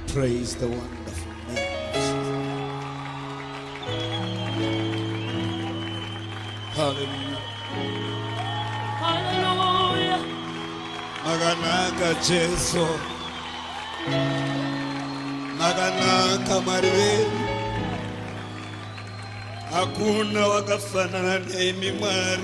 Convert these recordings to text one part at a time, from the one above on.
Praise the wonderful name. Hallelujah. Hallelujah. Maganaka Jesu. Maganaka Maria. Hakuna wakafanana nemi Mwari.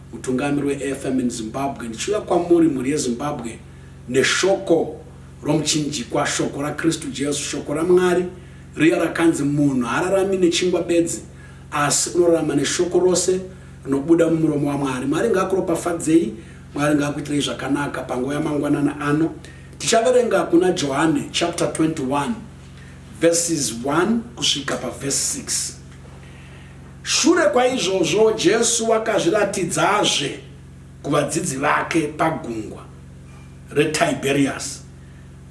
Mutungamiri weAFM in Zimbabwe, ndichiuya kwamuri mhuri yeZimbabwe neshoko romuchinjikwa, shoko raKristu Jesu, shoko raMwari riya rakanzi munhu haararami nechingwa bedzi asi unorarama neshoko rose rinobuda mumuromo waMwari. Mwari ngaakuropafadzei, Mwari ngaakuitirei zvakanaka panguva yamangwanana ano. Tichaverenga kuna Johane chapter 21 verses 1 kusvika paverse 6. Shure kwaizvozvo, Jesu wakazviratidzazve kuvadzidzi vake pagungwa reTibheriyasi.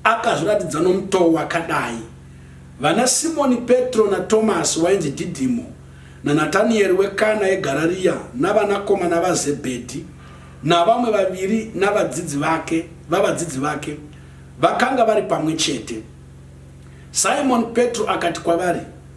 Akazviratidza nomutoo wakadai, Vanasimoni Petro naTomasi wainzi Dhidhimo, naNataniyeri weKana yeGarariya, navanakomana vaZebhedhi, navamwe vaviri navadzidzi vake, vavadzidzi vake, vakanga vari pamwe chete. Simoni Petro akati kwavari,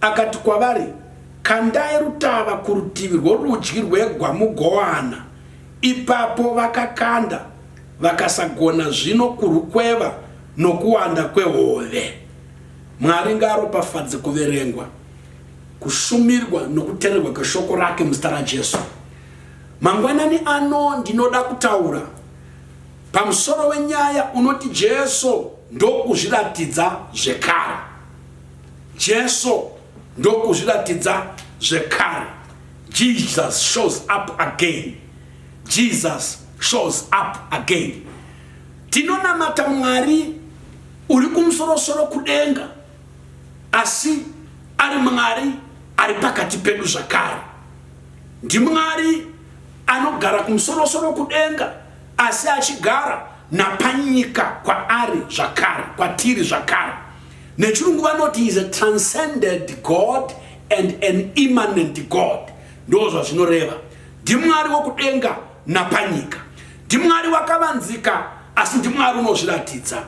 Akati kwavari, Kandai rutava kurutivi rworudyi rwegwa mugowana. Ipapo vakakanda, vakasagona zvino kurwukweva nokuwanda kwehove. Mwari ngaaropafadze kuverengwa, kushumirwa nokuteererwa kweShoko rake muzita raJesu. Mangwanani ano ndinoda kutaura pamusoro wenyaya unoti Jesu ndokuzviratidza zvekare. Jesu ndokuzviratidza zvekare. Jesus shows up again. Jesus shows up again. Tinonamata Mwari uri kumusorosoro kudenga asi ari Mwari ari pakati pedu zvakare. NdiMwari anogara kumusorosoro kudenga asi achigara napanyika kwaari zvakare kwatiri zvakare. nechirungu vanoti is a transcended god and an immanent god ndo zvazvinoreva ndimwari wokudenga napanyika ndimwari wakavanzika asi ndimwari unozviratidza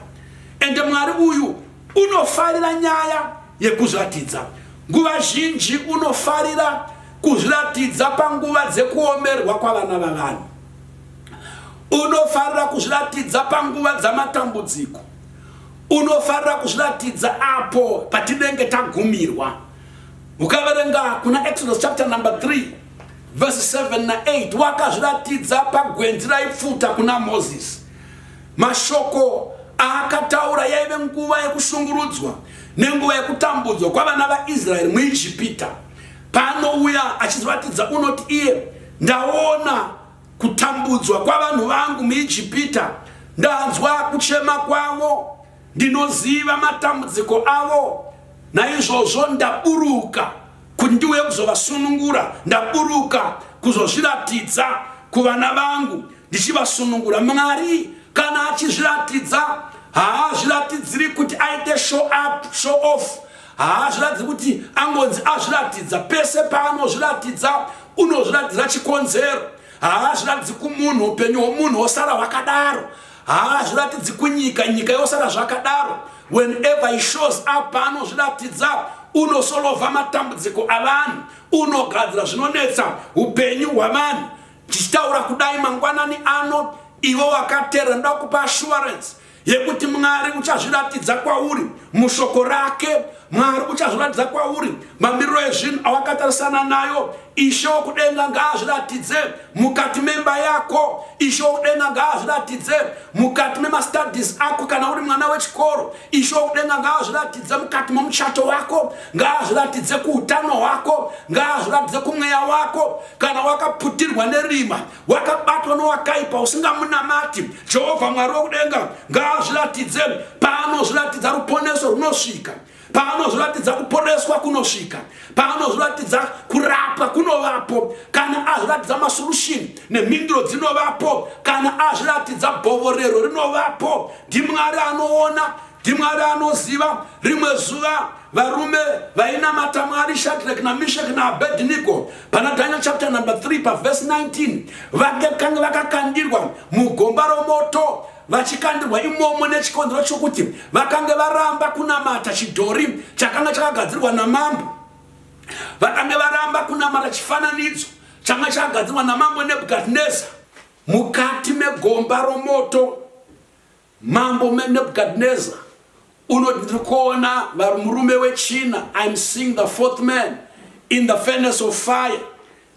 ende mwari uyu unofarira nyaya yekuzviratidza nguva zhinji unofarira kuzviratidza panguva dzekuomerwa kwavana vavanhu unofarira kuzviratidza panguva dzamatambudziko Unofarira kuzviratidza apo patinenge tagumirwa. Ukaverenga kuna Exodus chapter number 3 verse 7 na 8 wakazviratidza pagwenzi raipfuta kuna Moses. Mashoko aakataura yaive nguva yekushungurudzwa nenguva yekutambudzwa kwavana vaIsraeri muIjipita. Paanouya achizoratidza unoti iye ndaona Kutambudzwa kwavanhu vangu muIjipita, ndanzwa kuchema kwavo, ndinoziva matambudziko avo. Naizvozvo ndaburuka kuti ndiuye kuzovasunungura, ndaburuka kuzozviratidza kuvana vangu ndichivasunungura. Mwari kana achizviratidza haazviratidziri kuti aite show up, show off, haazviratidzi kuti angonzi azviratidza pese paanozviratidza unozviratidza chikonzero haazviratidzi kumunhu upenyu hwomunhu wosara hwakadaro haazviratidzi kunyika nyika yosara zvakadaro whenever he shows up paanozviratidza unosolovha matambudziko avanhu unogadzira zvinonetsa upenyu hwavanhu tichitaura kudai mangwanani ano ivo wakateera ndokupa assurance yekuti mwari uchazviratidza kwauri mushoko rake mwari uchazviratidza kwauri mamiriro ezvinhu awakatarisana nayo ishe wokudenga ngaazviratidze mukati memba yako ishe wokudenga ngaazviratidze mukati memastudis ako kana uri mwana wechikoro ishe wokudenga ngaazviratidze mukati momuchato wako ngaazviratidze kuutano hwako ngaazviratidze kumweya wako kana wakaputirwa nerima wakabatwa nowakaipa usingamunamati jehovha mwari wokudenga ngaazviratidze paanozviratidza ruponeso runosvika paanozviratidza kuporeswa kunosvika paanozviratidza kurapwa kunovapo kana azviratidza masolution nemhinduro dzinovapo kana azviratidza bhovorero rinovapo ndimwari anoona ndimwari anoziva rimwe zuva Varume vainamata Mwari Shadrach na Meshach na Abednego pana Daniel chapter number 3 pa verse 19 vakanga vakakandirwa mugomba romoto vachikandirwa imomo nechikonzero chokuti vakange varamba kunamata chidhori chakanga chakagadzirwa namambo vakange varamba kunamata chifananidzo changa chakagadzirwa namambo nebukadnezar mukati megomba romoto Mambo Nebuchadnezzar unoti ndiri kuona murume wechina, I'm seeing the fourth man in the furnace of fire.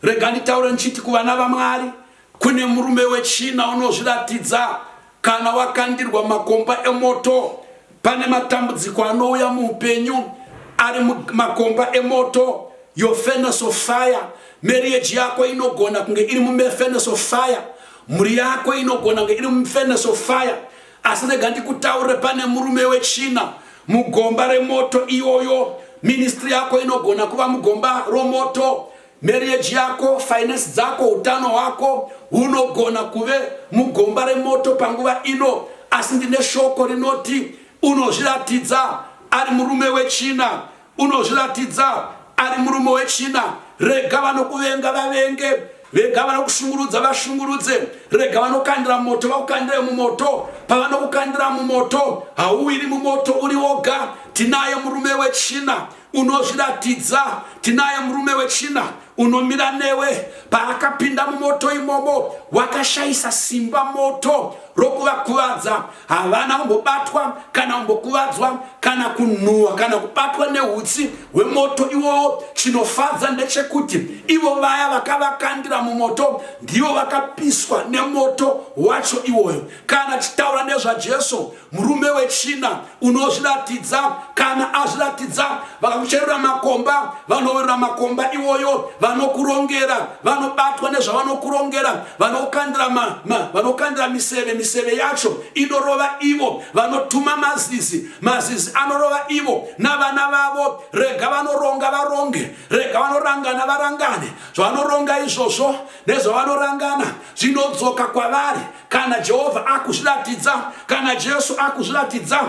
Rega nditaure ndichiti kuvana vaMwari kune murume wechina unozviratidza kana wakandirwa makomba emoto. Pane matambudziko anouya muupenyu ari makomba emoto your furnace of fire marriage yako inogona kunge iri mumefurnace of fire Mhuri yako inogona kunge iri mufurnace of fire asi rega ndikutaurire pane murume wechina mugomba remoto iyoyo ministry yako inogona kuva mugomba romoto marriage yako finance dzako utano hwako hunogona kuve mugomba remoto panguva ino asi ndine shoko rinoti unozviratidza ari murume wechina Unozviratidza ari murume wechina. Rega vanokuvenga vavenge. Rega vanokushungurudza vashungurudze. Rega vanokandira mumoto vakukandire mumoto. Pavanokukandira mumoto hauwiri mumoto uri woga. Tinaye murume wechina unozviratidza. Tinaye murume wechina unomira newe paakapinda mumoto imomo wakashayisa simba moto rokuvakuvadza havana kumbobatwa kana kumbokuvadzwa kana kunhuwa kana kubatwa neutsi hwemoto iwowo chinofadza ndechekuti ivo vaya vakavakandira mumoto ndivo vakapiswa nemoto wacho iwoyo kana tichitaura nezvajesu Murume wechina unozviratidza kana azviratidza vakakucherura makomba vanoverura makomba iwoyo vanokurongera vanobatwa nezvavanokurongera vanokandira ma, ma, vanokandira miseve miseve yacho inorova ivo vanotuma mazizi mazizi anorova ivo navana vavo rega vanoronga varonge rega vanorangana varangane zvavanoronga izvozvo nezvavanorangana zvinodzoka kwavari kana jehovha akuzviratidza kana jesu akuzviratidza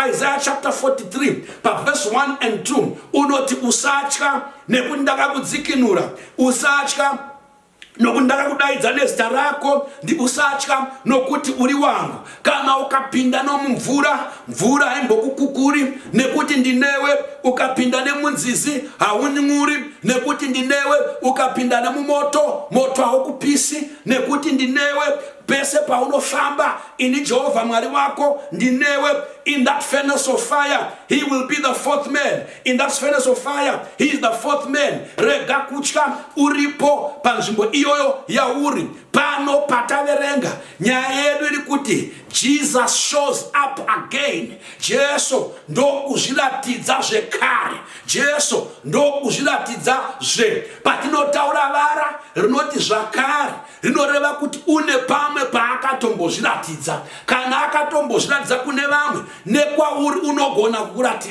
isaiah chapter 43 pavhesi 1 and 2 unoti usatya nekuti ndakakudzikinura usatya nokuti ndakakudaidza nezita rako ndiusatya nokuti uri wangu kana ukapinda nomumvura mvura haimbokukukuri nekuti ndinewe ukapinda nemunzizi haunyuri nekuti ndinewe ukapinda nemumoto moto haukupisi nekuti ndinewe pese paunofamba ini jehovha mwari wako ndinewe in that furnace of fire he will be the fourth man in that furnace of fire he is the fourth man rega kutya uripo panzvimbo iyoyo yauri pano pataverenga nyaya yedu iri kuti jesus shows up again jesu ndokuzviratidza zvekare Jesu ndokuzviratidza zve patinotaura vara rinoti zvakare rinoreva kuti une pamwe paakatombozviratidza kana akatombozviratidza kune vamwe nekwauri unogona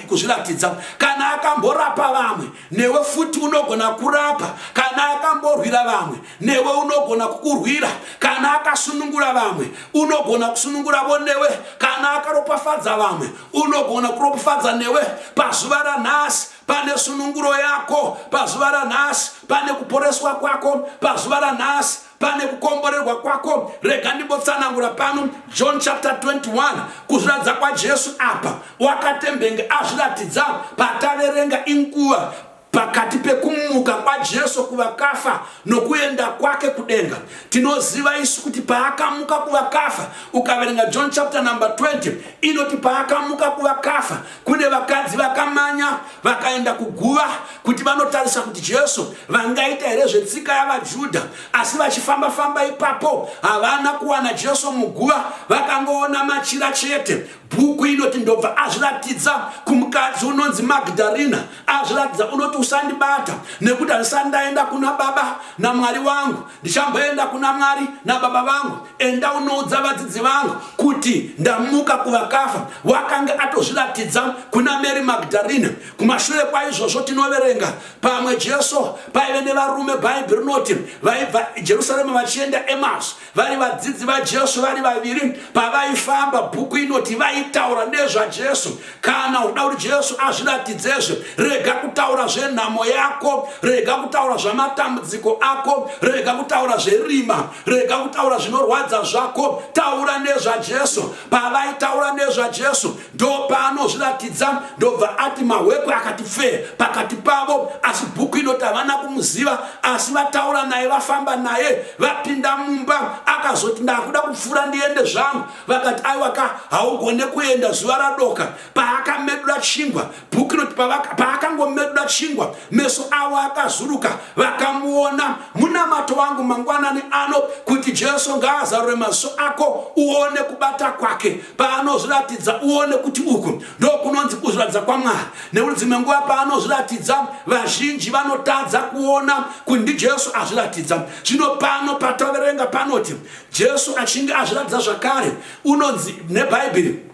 kuzviratidza kana akamborapa vamwe newe futi unogona kurapa kana akamborwira vamwe newe unogona kukurwira kana akasunungura vamwe unogona kusununguravo newe kana akaropafadza vamwe unogona kuropafadza newe pazuva ranhasi pane sununguro yako pazuva ranhasi pane kuporeswa kwako pazuva ranhasi pane kukomborerwa kwako rega ndimbotsanangura pano john chapter 21 kuzviratidza kwajesu apa wakatembenge azviratidza pataverenga inguva Pakati pekumuka kwaJesu kuvakafa nokuenda kwake kudenga, tinoziva isu kuti paakamuka kuvakafa, ukaverenga John chapter number 20 inoti paakamuka kuvakafa kune vakadzi vakamanya vakaenda kuguva kuti vanotarisa kuti Jesu vangaita here zvetsika yavaJudha, asi vachifamba famba ipapo havana kuwana Jesu muguva, vakangoona machira chete. Bhuku inoti ndobva azviratidza kumukadzi unonzi Magdalena azviratidza unoti usandibata nekuti handisati ndaenda kuna baba namwari wangu ndichamboenda kuna mwari nababa vangu enda unoudza vadzidzi vangu kuti ndamuka kuvakafa wakange atozviratidza kuna mary magdalina kumashure kwaizvozvo tinoverenga pamwe jesu paive nevarume bhaibhi rinoti vaibva jerusalema vachienda emas vari vadzidzi vajesu vari vaviri pavaifamba bhuku inoti vaitaura nezvajesu kana uda kuti jesu azviratidzezve rega kutaura zvenhamo yako rega kutaura zvamatambudziko ako rega kutaura zverima rega kutaura zvinorwadza zvako taura nezvajesu pavaitaura nezvajesu Ndopaanozviratidza ndobva ati Mahwekwe akati pfee pakati pavo asi Bhuku inoti havana kumuziva asi vataura naye vafamba naye vapinda mumba akazoti ndakuda kupfuura ndiende zvangu vakati aiwa ka haugone kuenda zuva radoka paakamedura chingwa Bhuku inoti paakangomedura chingwa, meso avo akazuruka, vakamuona. Munamato wangu mangwanani ano kuti Jesu ngaazarure maziso ako uone kubata kwake. Paanozviratidza uone kuti uku ndokunonzi kuzviratidza kwaMwari. Nekuti dzimwe nguva paanozviratidza vazhinji vanotadza kuona kuti ndiJesu azviratidza. Zvino pano patoverenga panoti Jesu achinge azviratidza zvakare, unonzi nebhaibheri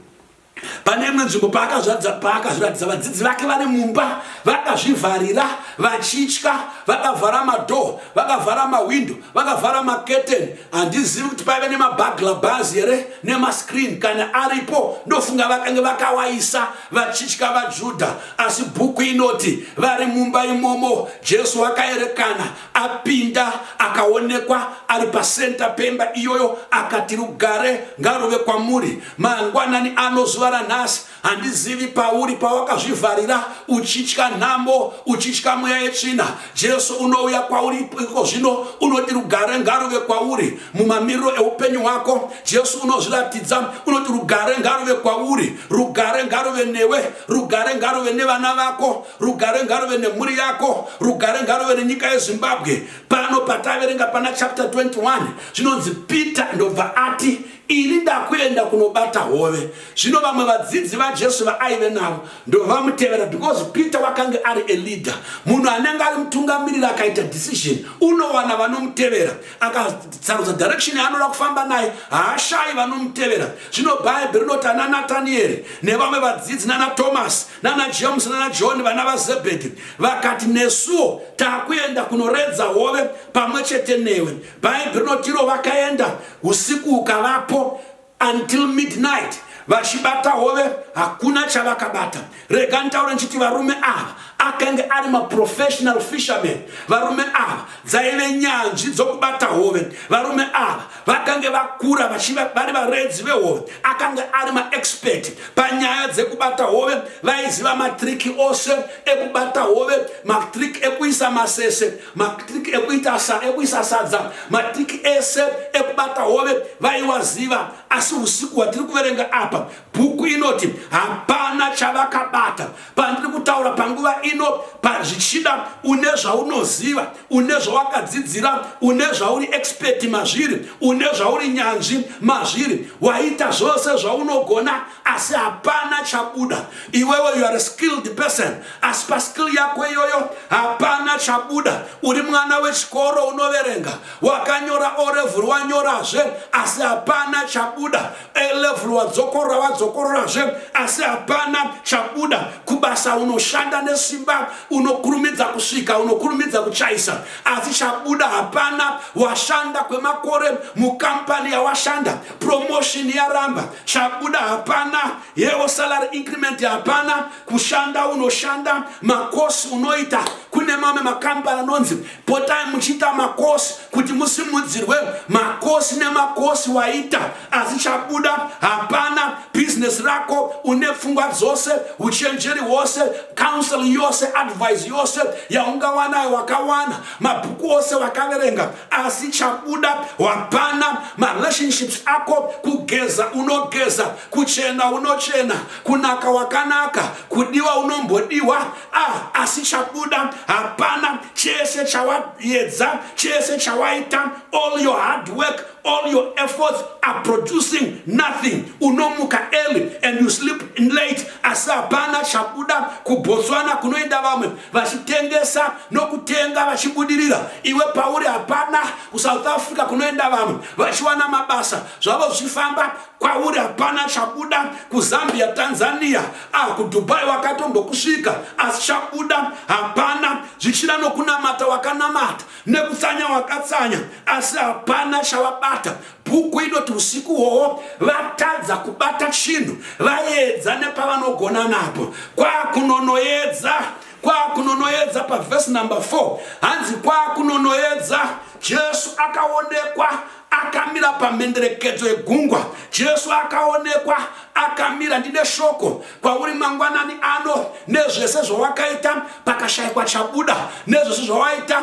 Pane imwe nzvimbo paakazvadza paakazviratidza vadzidzi vake vari mumba vakazvivharira vachitya vakavhara madhoo vakavhara mahwindo vakavhara maketeni handizivi kuti paive nemabagla bhazi here nemascreen kana aripo ndofunga vakange vakawaisa vachitya vajudha asi bhuku inoti vari mumba imomo jesu akaerekana apinda akaonekwa ari pacenter pemba iyoyo akati rugare ngaruve kwamuri Mangwanani ano zuva ranhasi handizivi pauri pawakazvivharira uchitya nhambo uchitya mweya yetsvina jesu unouya kwauri iko zvino unoti rugare ngaruve kwauri mumamiriro eupenyu hwako jesu unozviratidza unoti rugare ngaruve kwauri rugare ngaruve newe rugare ngaruve nevana vako rugare ngaruve nemhuri yako rugare ngaruve nenyika yezimbabwe pano pataverenga pana chapter 21 zvinonzi peter ndobva ati Ini ndakuenda kunobata hove. Zvino vamwe vadzidzi vaJesu vaaive navo ndovamutevera because Peter wakange ari a leader. Munhu anenge ari mutungamiriri akaita decision unowana vanomutevera. Akasarudza direction yaanoda kufamba naye haashayi vanomutevera. Zvino Bhaibheri rinoti ana Nataniyeri nevamwe vadzidzi nana Thomas nana James nana John vana vaZebhedhi vakati nesuwo takuenda kunoredza hove pamwe chete newe. Bhaibheri rinotiro vakaenda usiku hukavapo until midnight vachibata hove hakuna chavakabata rega nditaura ndichiti varume ava akange ari maprofessional fisherman varume ava dzaive nyanzvi dzokubata hove varume ava vakange vakura vari varedzi vehove akange ari maexpert panyaya dzekubata hove vaiziva matriki ose ekubata hove matriki ekuisa masese matriki ekuita sa ekuisa sadza matriki ese ekubata hove vaiwaziva asi usiku hwatiri kuverenga apa bhuku inoti hapana chavakabata pandiri kutaura panguva ino pazvichida une zvaunoziva une zvawakadzidzira une zvauri expeti mazviri une zvauri nyanzvi mazviri waita zvose zvaunogona asi hapana chabuda iwewe you are a skilled person asi paskill yako iyoyo hapana chabuda uri mwana wechikoro unoverenga wakanyora olevel wanyorazve asi hapana chabuda alevel wadzokorora wadzokororazve asi hapana chabuda kubasa unoshanda nesimba unokurumidza kusvika unokurumidza kuchaisa asi chabuda hapana washanda kwemakore mukampani yawashanda promotion yaramba chabuda hapana yewo salary increment hapana kushanda unoshanda makosi unoita kune mamwe makambani anonzi potai muchiita makosi kuti musimudzirwe makosi nemakosi waita asi chabuda hapana business rako une pfungwa dzose uchenjeri hwose counseling yose advise yose yaungawanayo wakawana mabhuku ose wakaverenga asi chabuda hapana marelationships ako kugeza unogeza kuchena unochena kunaka wakanaka kudiwa unombodiwa ah, asi chabuda hapana chese chawayedza chese chawaita all your hard work all your efforts are producing nothing unomuka early and you sleep late asi hapana chabuda kubotswana kunoenda vamwe vachitengesa nokutenga vachibudirira iwe pauri hapana kusouth africa kunoenda vamwe vachiwana mabasa zvavo zvifamba kwauri hapana chabuda kuzambia tanzania ah kudubai wakatombokusvika asi chabuda hapana zvichida nokunamata wakanamata nekutsanya wakatsanya asi hapana chavabata Bhuku inoti usiku uwowo vatadza kubata chinhu, vaedza nepavanogona napo, kwakunonoedza kwakunonoedza pavhesi number 4 hanzi kwakunonoedza jesu akaonekwa akamira pamhenderekedzo yegungwa jesu akaonekwa akamira ndine shoko kwauri mangwanani ano nezvese zvawakaita pakashaikwa chabuda nezvese zvawaita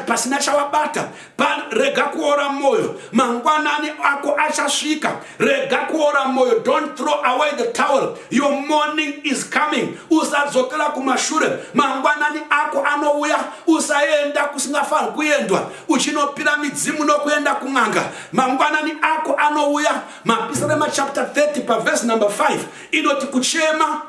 pasina chawabata rega kuora moyo mangwanani ako achasvika rega kuora moyo don't throw away the towel your morning is coming usadzokera kumashure mangwanani ako anouya usaenda kusingafaniri kuendwa uchinopira midzimu nokuenda kun'anga mangwanani ako anouya mapisarema chapter 30 pavhesi number 5 inoti kuchema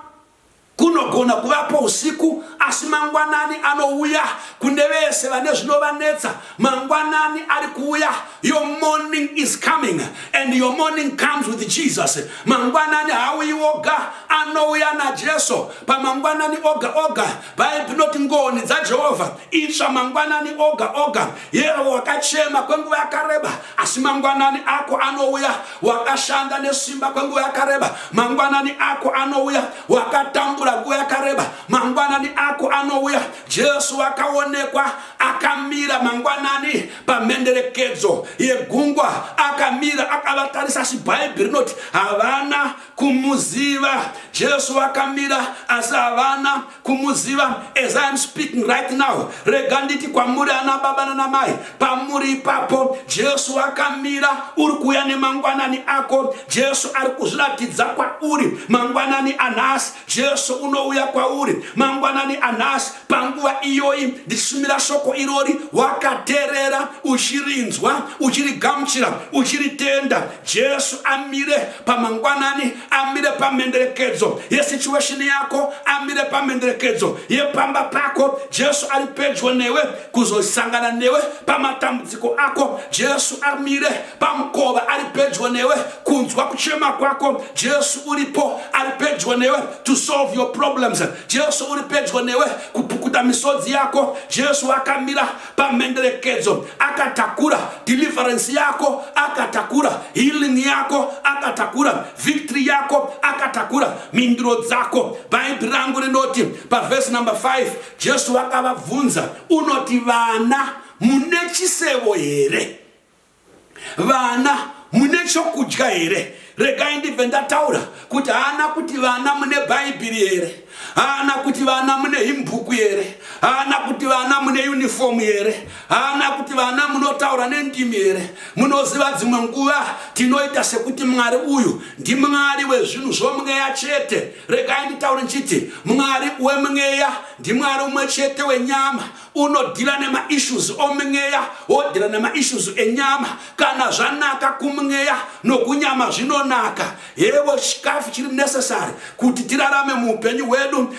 Kunogona kuvapo usiku, asi mangwanani anouya kune vese vane zvinovanetsa. Mangwanani ari kuuya. Your morning is coming and your morning comes with Jesus. Mangwanani haauyi oga, anouya naJesu. Pamangwanani oga oga bhaibheri rinoti ngoni dzajehovha itsva mangwanani oga oga yero wakachema kwenguva yakareba asi mangwanani ako anouya wakashanda nesimba kwenguva yakareba mangwanani ako anouya wakatambura nguva yakareba mangwanani ako anouya jesu wakaonekwa akamira mangwanani pamhenderekedzo yegungwa akamira akavatarisa asi bhaibheri rinoti havana kumuziva jesu vakamira asi havana kumuziva as iam speaking right now rega nditi kwamuri ana baba nanamai pamuri ipapo jesu vakamira uri kuuya nemangwanani ako jesu ari kuzviratidza kwauri mangwanani anhasi jesu unouya kwauri mangwanani anhasi panguva iyoyi ndichishumira shoko irori wakaterera uchirinzwa uchirigamuchira uchiritenda Jesu amire pamangwanani, amire pamhenderekedzo yesituation yako, amire pamhenderekedzo yepamba pako. Jesu ari pedyo newe kuzosangana newe pamatambudziko ako. Jesu amire pamukova, ari pedyo newe kunzwa kuchema kwako. Jesu uripo, ari pedyo newe to solve your problems. Jesu uri pedyo newe kupukuta misodzi yako. Jesu akamira pamhenderekedzo akatakura deliverance yako akatakura healing yako akatakura victory yako akatakura mhinduro dzako bhaibhi rangu rinoti pavhesi number 5 jesu vakavabvunza unoti vana mune chisevo here vana mune chokudya here regai ndibve ndataura kuti haana kuti vana mune bhaibhiri here haana kuti vana mune himbhuku here haana kuti vana mune unifomu here haana kuti vana munotaura nendimi here munoziva dzimwe nguva tinoita sekuti mwari uyu ndimwari wezvinhu zvomweya chete regai nditaure ndichiti mwari wemweya ndimwari umwe chete wenyama unodhila nemaissues omweya wodhila nemaissues enyama kana zvanaka kumweya nokunyama zvinonaka hevo chikafu chiri necessary kuti tirarame muupenyu hwedu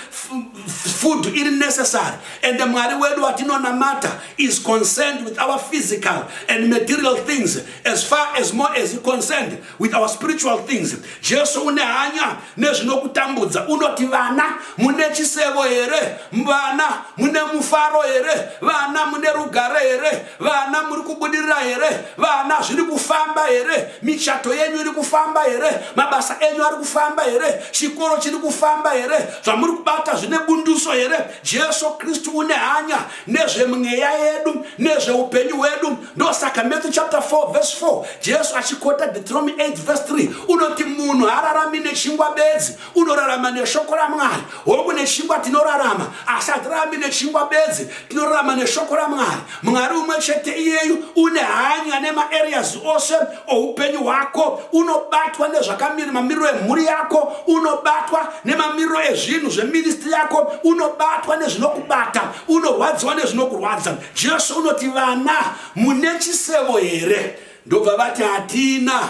food iri necessary and mwari wedu watinonamata is concerned with our physical and material things as far as more as concerned with our spiritual things jesu une hanya nezvinokutambudza unoti vana mune chisevo here vana mune mufaro here vana mune rugare here vana muri kubudirira here vana zviri kufamba here michato yenyu iri kufamba here mabasa enyu ari kufamba here chikoro chiri kufamba here zvamuri kubata zvine bunduso here jesu kristu une hanya nezvemweya yedu nezveupenyu hwedu ndosaka matthew chapter 4 verse 4 jesu achikota deuteronomy 8 verse 3 unoti munhu haararami nechingwa bedzi unorarama neshoko ramwari hongu nechingwa tinorarama asi hatirarami nechingwa bedzi tinorarama neshoko ramwari mwari umwe chete iyeyu une hanya nemaareas ose oupenyu hwako unobatwa nezvakamiri mamiriro emhuri yako unobatwa nemamiriro ezvinhu zveministri yako unobatwa nezvinokubata unorwadziwa nezvinokurwadza Jesu unoti vana mune chisemo here? Ndobva vati hatina.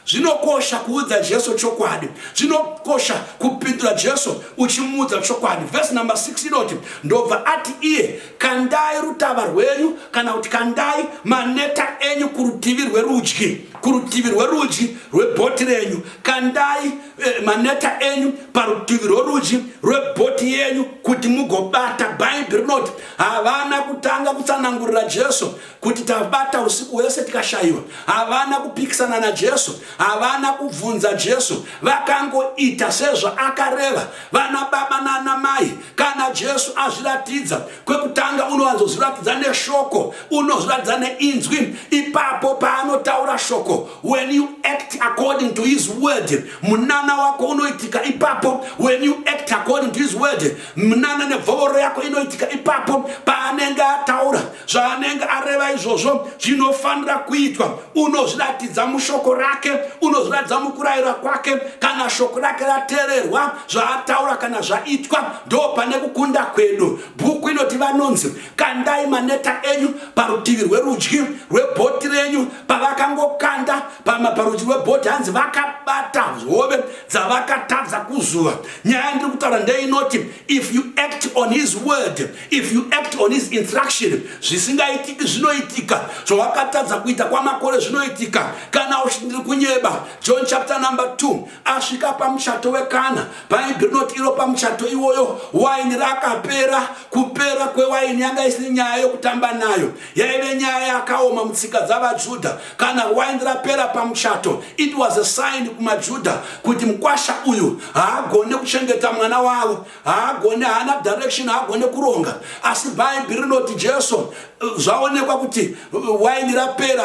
Zvinokosha kuudza Jesu chokwadi. Zvinokosha kupindura Jesu uchimuudza chokwadi. Vhesi number 6 inoti ndobva ati iye, kandai rutava rwenyu kana kuti kandai maneta enyu kurutivi rwerudyi, kurutivi rwerudyi rwebhoti renyu, kandai eh, maneta enyu parutivi rworudyi rwebhoti yenyu kuti mugobata bhaibhi rinoti havana kutanga kutsanangurira jesu kuti tabata usiku hwese tikashayiwa havana kupikisana najesu havana kubvunza jesu vakangoita sezvaakareva vana baba nana mai kana jesu azviratidza kwekutanga unowanzozviratidza neshoko unozviratidza neinzwi ipapo paanotaura shoko when you act according to his word munana wako unoitika ipapo when you act according to his word munana nebvovoro yako inoitika ipapo paanenge ataura zvaanenge areva izvozvo zvinofanira kuitwa unozviratidza mushoko rake unozviratidza mukurayira kwake kana shoko rake rateererwa zvaataura kana zvaitwa ndo pane kukunda kwedu bhuku inoti vanonzi kandai maneta enyu parutivi rwerudyi rwebhoti renyu pavakangokanda pama parudyi rwebhoti hanzi vakabata hove dzavakatadza kuzuva nyaya ndiri kutaura ndeinoti if you act on his word if you act on his instruction zvisingaitiki zvinoitika zvawakatadza kuita kwamakore zvinoitika kana uchindiri kunyeba john chapter number 2 asvika pamuchato wekana paidonot iro pamuchato iwoyo waini rakapera kupera kwewaini yanga isiri nyaya yokutamba nayo yaive nyaya yakaoma mutsika dzavajudha kana waini rapera pamuchato it was a sign kumajudha kuti mukwasha uyu haagone kuchengeta mwana wavo haagone haana direction haagone kuronga asi bhaibheri rinoti jesu zvaonekwa kuti waini rapera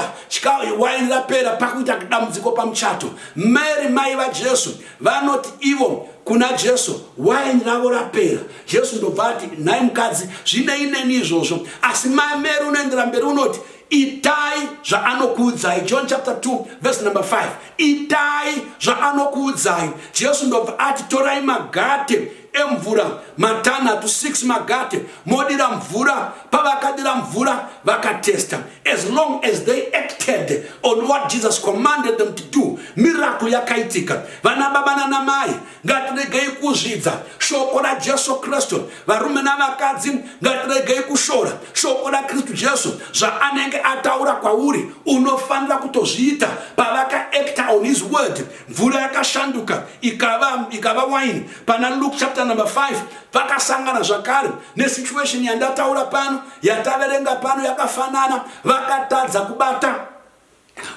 waini rapera pakuita dambudziko pamuchato mary mai vajesu vanoti ivo kuna jesu waini ravo rapera jesu ndobva ati nhai mukadzi zvinei neni izvozvo asi mameri unoendera mberi unoti itai zvaanokuudzai john chapter 2 verse number 5 itai zvaanokuudzai jesu ndobva ati torai magate emvura matanhatu 6 magate modira mvura pavakadira mvura vakatesta as long as they acted on what jesus commanded them to do miracle yakaitika vana baba nanamai ngatiregei kuzvidza shoko rajesu kristu varume navakadzi ngatiregei kushora shoko rakristu jesu zvaanenge ataura kwauri unofanira kutozviita pavakaekta on his word mvura yakashanduka ikava, ikava wine pana luke chapter number 5 vakasangana zvakare nesituation yandataura pano yataverenga pano yakafanana vakatadza kubata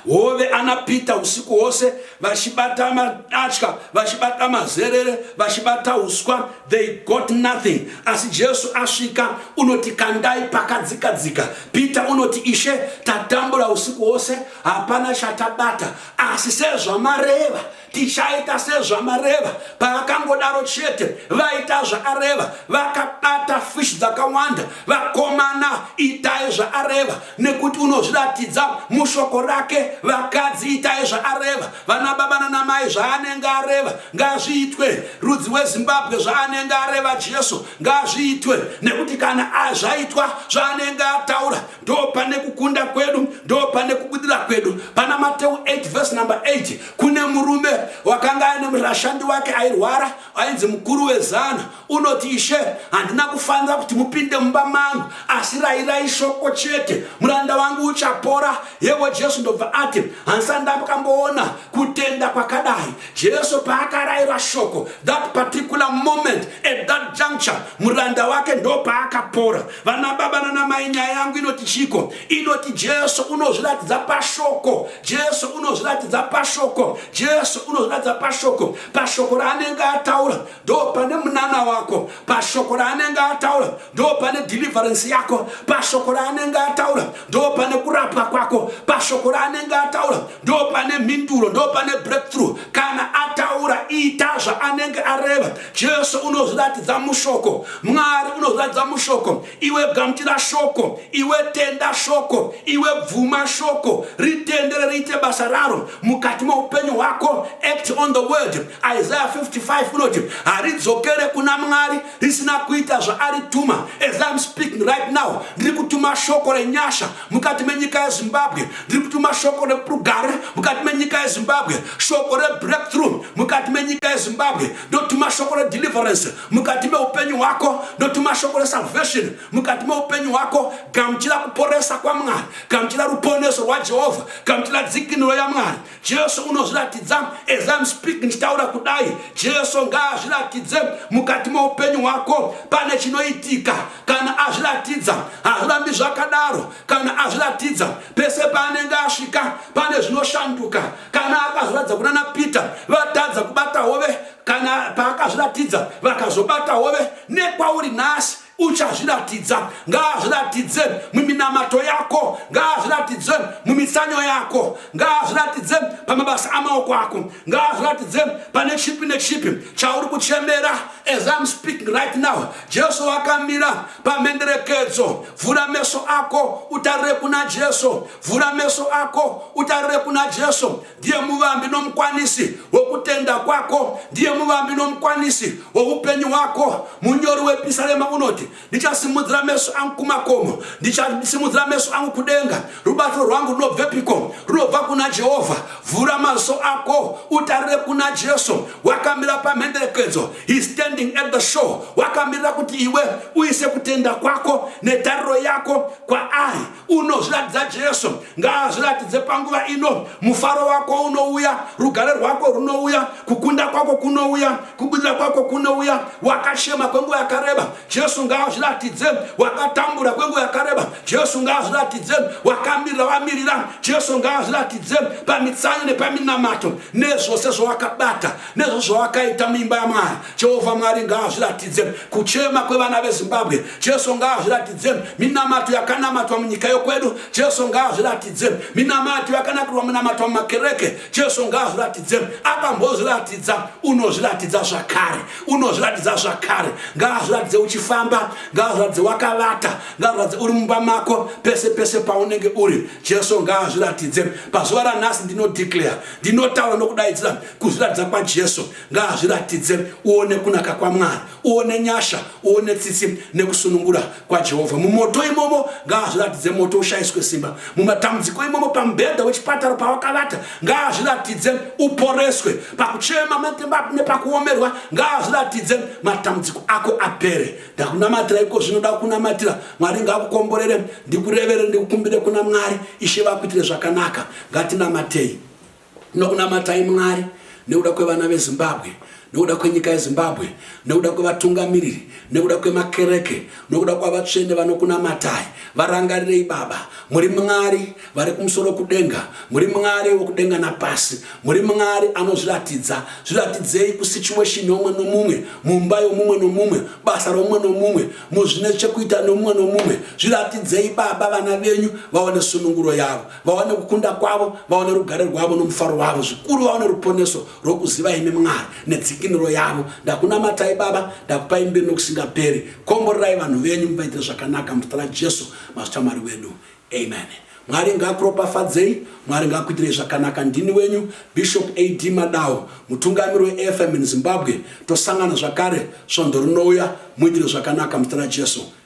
Hove ana Peter usiku hwose vachibata madatya, vachibata mazerere, vachibata huswa, they got nothing. Asi Jesu asvika unoti kandai pakadzikadzika. Peter unoti Ishe, tatambura usiku hwose hapana chatabata, asi sezvamareva tichaita sezvamareva paakangodaro chete vaita zvaareva vakabata fish dzakawanda vakomana itai zvaareva nekuti unozviratidza mushoko rake vakadzi itai zvaareva vana baba nanamai zvaanenge areva ngazviitwe rudzi wezimbabwe zvaanenge areva jesu ngazviitwe nekuti kana azvaitwa zvaanenge ataura ndo pane kukunda kwedu ndo pane kubudira kwedu pana mateu 8 vhesi number 8 kune murume wakanga aine murashandi wake airwara ainzi mukuru wezana unoti ishe handina kufanira kuti mupinde mumba mangu asi rairai shoko chete muranda wangu uchapora yevo jesu ndobva ati handisani ndambokamboona kutenda kwakadai jesu paakaraira shoko that particular moment at that juncture muranda wake ndo paakapora vana baba nana mai nyaya yangu inoti chiko inoti jesu unozviratidza pashoko jesu unozviratidza pashoko jesu unozviratidza pashoko pashoko raanenge ataura ndo pane munana wako pashoko raanenge ataura ndo pane deliverance yako pashoko raanenge ataura ndo pane kurapwa kwako pashoko raanenge ataura ndo pane mhinduro ndo pane breakthrough kana ataura ita zvaanenge areva Jesu unozviratidza mushoko, Mwari unozviratidza mushoko. Iwe gamuchira shoko, iwe tenda shoko, iwe bvuma shoko, ritendere riite basa raro mukati meupenyu hwako. Act on the word. Isaiah 55 unoti haridzokere kuna Mwari risina kuita zvaarituma. As I'm speaking right now, ndiri kutuma shoko renyasha mukati menyika yezimbabwe ndiri kutuma shoko reprugare mukati menyika yezimbabwe shoko rebreakthrough mukati menyika yezimbabwe ndotuma shoko redeliverance mukati meupenyu hwako ndotuma shoko resalvation mukati meupenyu hwako gamuchira kuporesa kwamwari gamuchira ruponeso rwajehovha gamuchira dzikinuro yamwari Jesu unozviratidza as I'm speaking ndichitaura kudai Jesu ngaazviratidze mukati meupenyu hwako pane chinoitika kana azviratidza hazvirambi zvakadaro kana azviratidza pese paanenge asvika pane zvinoshanduka kana akazviratidza kunana Peter vatadza kubata hove kana paakazviratidza vakazobata hove nekwauri nhasi uchazviratidza ngaazviratidze muminamato yako ngaazviratidze mumitsanyo yako ngaazviratidze pamabasa amaoko ako ngaazviratidze pane chipi nechipi chauri kuchemera as im speaking right now jesu wakamira pamhenderekedzo vhura meso ako utarire kuna jesu vhura meso ako utarire kuna jesu ndiye muvambi nomukwanisi wokutenda kwako ndiye muvambi nomukwanisi woupenyu hwako munyori wepisarema unoti ndichasimudzira meso angu kumakomo ndichasimudzira meso angu kudenga rubatsiro rwangu runobvepiko runobva kuna jehovha vhura maziso ako utarire kuna jesu wakamira pamhenderekedzo he standing at the show wakamirira kuti iwe uise kutenda kwako netariro yako kwaari unozviratidza jesu ngaazviratidze panguva ino mufaro wako unouya rugare rwako runouya kukunda kwako kunouya kubudira kwako kunouya wakashema kwenguva yakareba jesu ngaazviratidze wakatambura kwenguva yakareba jesu ngaazviratidze wakamirira wamirira jesu ngaazviratidze pamitsanyo nepaminamato nezvose zvawakabata nezvo zvawakaita muimba yamwari Jehovha Mwari ngaazviratidze kuchema kwevana veZimbabwe. Jesu ngaazviratidze minamato yakanamatwa munyika yokwedu. Jesu ngaazviratidze minamato yakanakirwa munamatwa mumakereke. Jesu ngaazviratidze akambozviratidza, unozviratidza zvakare, unozviratidza zvakare. Ngaazviratidze uchifamba, ngaazviratidze wakavata, ngaazviratidze uri mumba mako, pese pese paunenge uri. Jesu ngaazviratidze pazuva ranhasi. Ndinodeclare, ndinotaura nokudaidzira kuzviratidza kwaJesu. Ngaazviratidze uone kunaka kwaMwari, uone nyasha, uone tsitsi nekusunungura kwaJehovha. Mumoto imomo ngaazviratidze moto ushayiswe simba. Mumatambudziko imomo pamubhedha wechipatara pawakavata ngaazviratidze uporeswe. Pakuchema nepakuomerwa ngaazviratidze matambudziko ako apere. Ndakunamatira iko zvinoda kunamatira. Mwari ngaakukomborere, ndikurevere, ndikukumbire kuna Mwari. Ishe vakuitire zvakanaka. Ngatinamatei. Tinokunamatai Mwari nekuda kwevana veZimbabwe, nekuda kwenyika yeZimbabwe, nekuda kwevatungamiriri, nekuda kwemakereke, nokuda kwavatsvene vanokunamatai. Varangarirei Baba. Muri Mwari vari kumusoro kudenga. Muri Mwari wokudenga napasi. Muri Mwari anozviratidza. Zviratidzei kusituation youmwe nomumwe, mumba yomumwe nomumwe, basa romumwe nomumwe, muzvine chekuita nomumwe nomumwe. Zviratidzei Baba vana venyu vaone sununguro yavo. vaone kukunda kwavo vaone rugare rwavo nomufaro wavo zvikuru vaone ruponeso rwokuziva imi mwari nedzikinuro yavo ndakunamatai baba ndakupai mbiri nokusingaperi komborerai vanhu venyu muvaitire zvakanaka muzita rajesu mazita mwari wedu amen mwari ngakuropafadzei mwari ngakuitirei zvakanaka ndini wenyu bishop ad madawo mutungamiri weafm in zimbabwe tosangana zvakare svondo rinouya muitire zvakanaka muzita rajesu